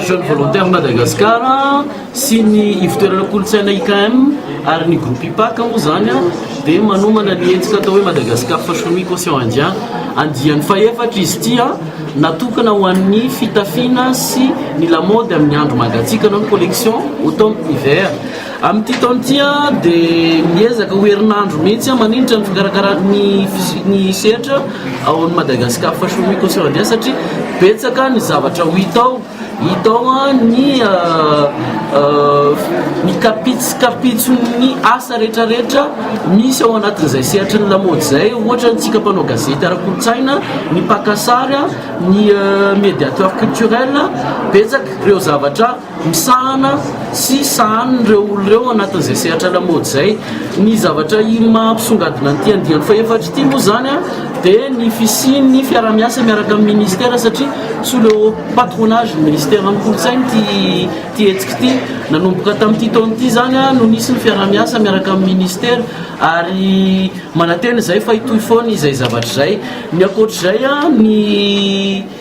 Jeune Volontaire Madagascar sy ny ivotoerana kolontsaina IKM ary ny groupe IPAK moa izany dia manomana ny hetsika atao hoe Madagascar Fashion Week Océan Indien andiany fahefatra izy ity natokana ho an'ny fitafiana sy ny lamaody amin'ny andro mangatsiaka na ny collection automne hiver Amin'ity taona ity dia miezaka ho herinandro mihitsy maninitra ny fikarakarana ny physique ny sehatra ao amin'ny Madagascar Fashion Week Australia satria betsaka ny zavatra ho hita ao, hita ao ny ny kapits kapitson'ny asa rehetra rehetra misy ao anatin'izay sehatry ny lamaody izay ohatra antsika mpanao gazety ara-kolontsaina, ny mpaka sary, ny médiateur culturel betsaka ireo zavatra. misahana sy sahanin'ireo olona ireo anatin'izay sehatra lamaody izay. Ny zavatra maha mpisongadina an'ity andiany fahefatra ity moa izany dia ny fisian'ny fiaraha-miasa miaraka amin'ny ministera satria sous le patronage ny ministeran'ny kolontsaina ity hetsika ity. Nanomboka tamin'ity taona ity izany no nisy ny fiaraha-miasa miaraka amin'ny ministera ary manantena izay fa hitohy foana izay zavatra izay. Ny ankoatra izay, ny.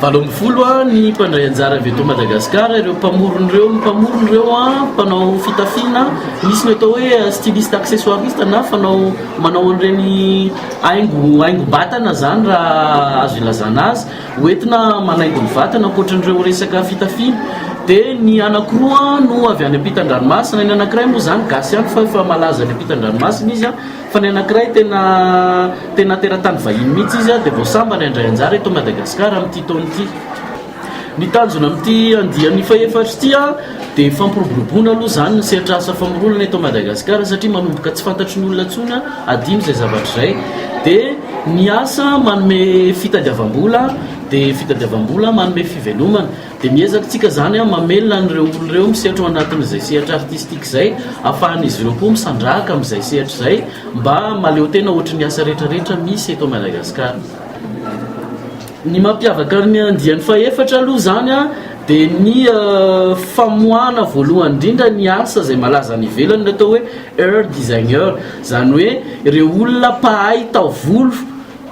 Valo ambin'ny folo a ny mpandray anjara avy eto Madagascar ireo mpamorona ireo ny mpamorona ireo a mpanao fitafiana misy ny atao hoe styliste accessoiriste na fanao manao an'ireny haingo haingo batana zany raha azo ilazana azy hoentina manaingo ny vatana ankoatran'ireo resaka fitafiana de ny anakiroa no avy any am-pitan-dranomasina ny anakiray moa zany gasy ihany fa efa malaza any am-pitan-dranomasina izy a Fa ny anankiray tena tena teratany vahiny mihitsy izy dia vao sambany handray anjara eto Madagasikara amin'ity taona ity. Ny tanjona amin'ity andiany fahefatra ity dia fampiroboroboana aloha izany ny sehatra asa famoronana eto Madagasikara satria manomboka tsy fantatry ny olona intsony adino izay zavatra izay dia ny asa manome fitadiavam-bola dia fitadiavam-bola manome fivelomana. Dia miezaka tsika izany mamelona an'ireo olona ireo misehatra ao anatin'izay sehatra artistique izay, afahan'izy ireo koa misandrahaka amin'izay sehatra izay mba mahaleotena ohatry ny asa rehetra rehetra misy eto Madagascar. Ny mampiavaka ny andiany fahefatra aloha izany dia ny famoahana voalohany indrindra ny asa izay malaza any ivelany, ny atao hoe Ur designer, izany hoe ireo olona mpahay taovolo,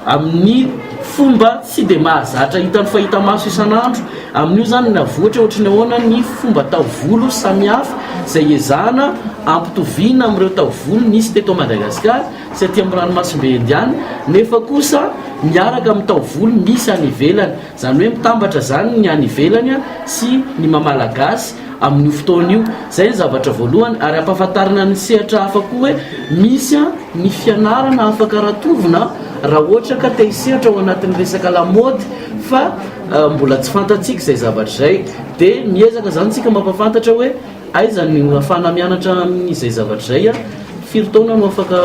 amin'ny fomba tsy dia mahazatra hitan'ny fahita-maso isan'andro, amin'io izany ny avohitra ohatry ny ahoana ny fomba taovolo samihafa izay iezahana ampitoviana amin'ireo taovolo nisy teto Madagasikara sy aty amin'ny ranomasimbe Indiana nefa kosa miaraka amin'ny taovolo misy any ivelany. Izany hoe mitambatra izany ny any ivelany sy ny maha Malagasy amin'io fotoana io. Izay ny zavatra voalohany ary ampahafantarina ny sehatra hafa koa hoe misy ny fianarana afaka rantovina raha ohatra ka te hisehatra ao anatin'ny resaka lamaody fa mbola tsy fantatsika izay zavatra izay dia miezaka izany isika mampahafantatra hoe Aiza no ahafahana mianatra an'izay zavatra izay? Firy taona no afaka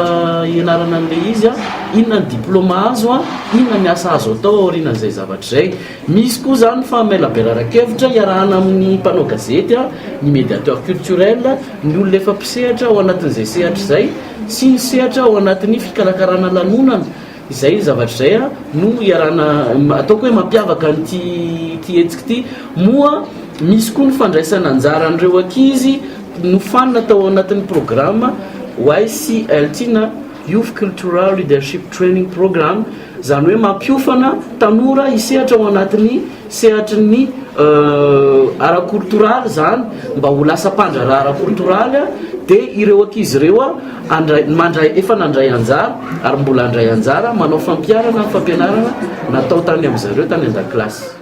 hianarana an'ilay izy? Inona ny diplaoma azo? Inona ny asa azo atao aorianan'izay zavatra izay? Misy koa izany fa maila berarankevitra iarahana amin'ny mpanao gazety, ny médiateur culturel, ny olona efa mpisehatra ao anatin'izay sehatra izay sy ny sehatra ao anatin'ny fikarakarana lanonana. Izay zavatra izay no iarahana, ataoko hoe mampiavaka an'ity ity hetsika ity. Moa misy koa ny fandraisana anjaran'ireo ankizy nofanina tao anatin'ny programa YCLT na Youth Cultural Leadership Training Programme, izany hoe mampiofana tanora hisehatra ao anatin'ny. sehatry ny ara-koltoraly izany mba ho lasa mpandraharaha ara-koltoraly dia ireo ankizy ireo mandray efa nandray anjara ary mbola handray anjara manao fampiharana ny fampianarana natao tany amin'izareo tany an-dakilasy.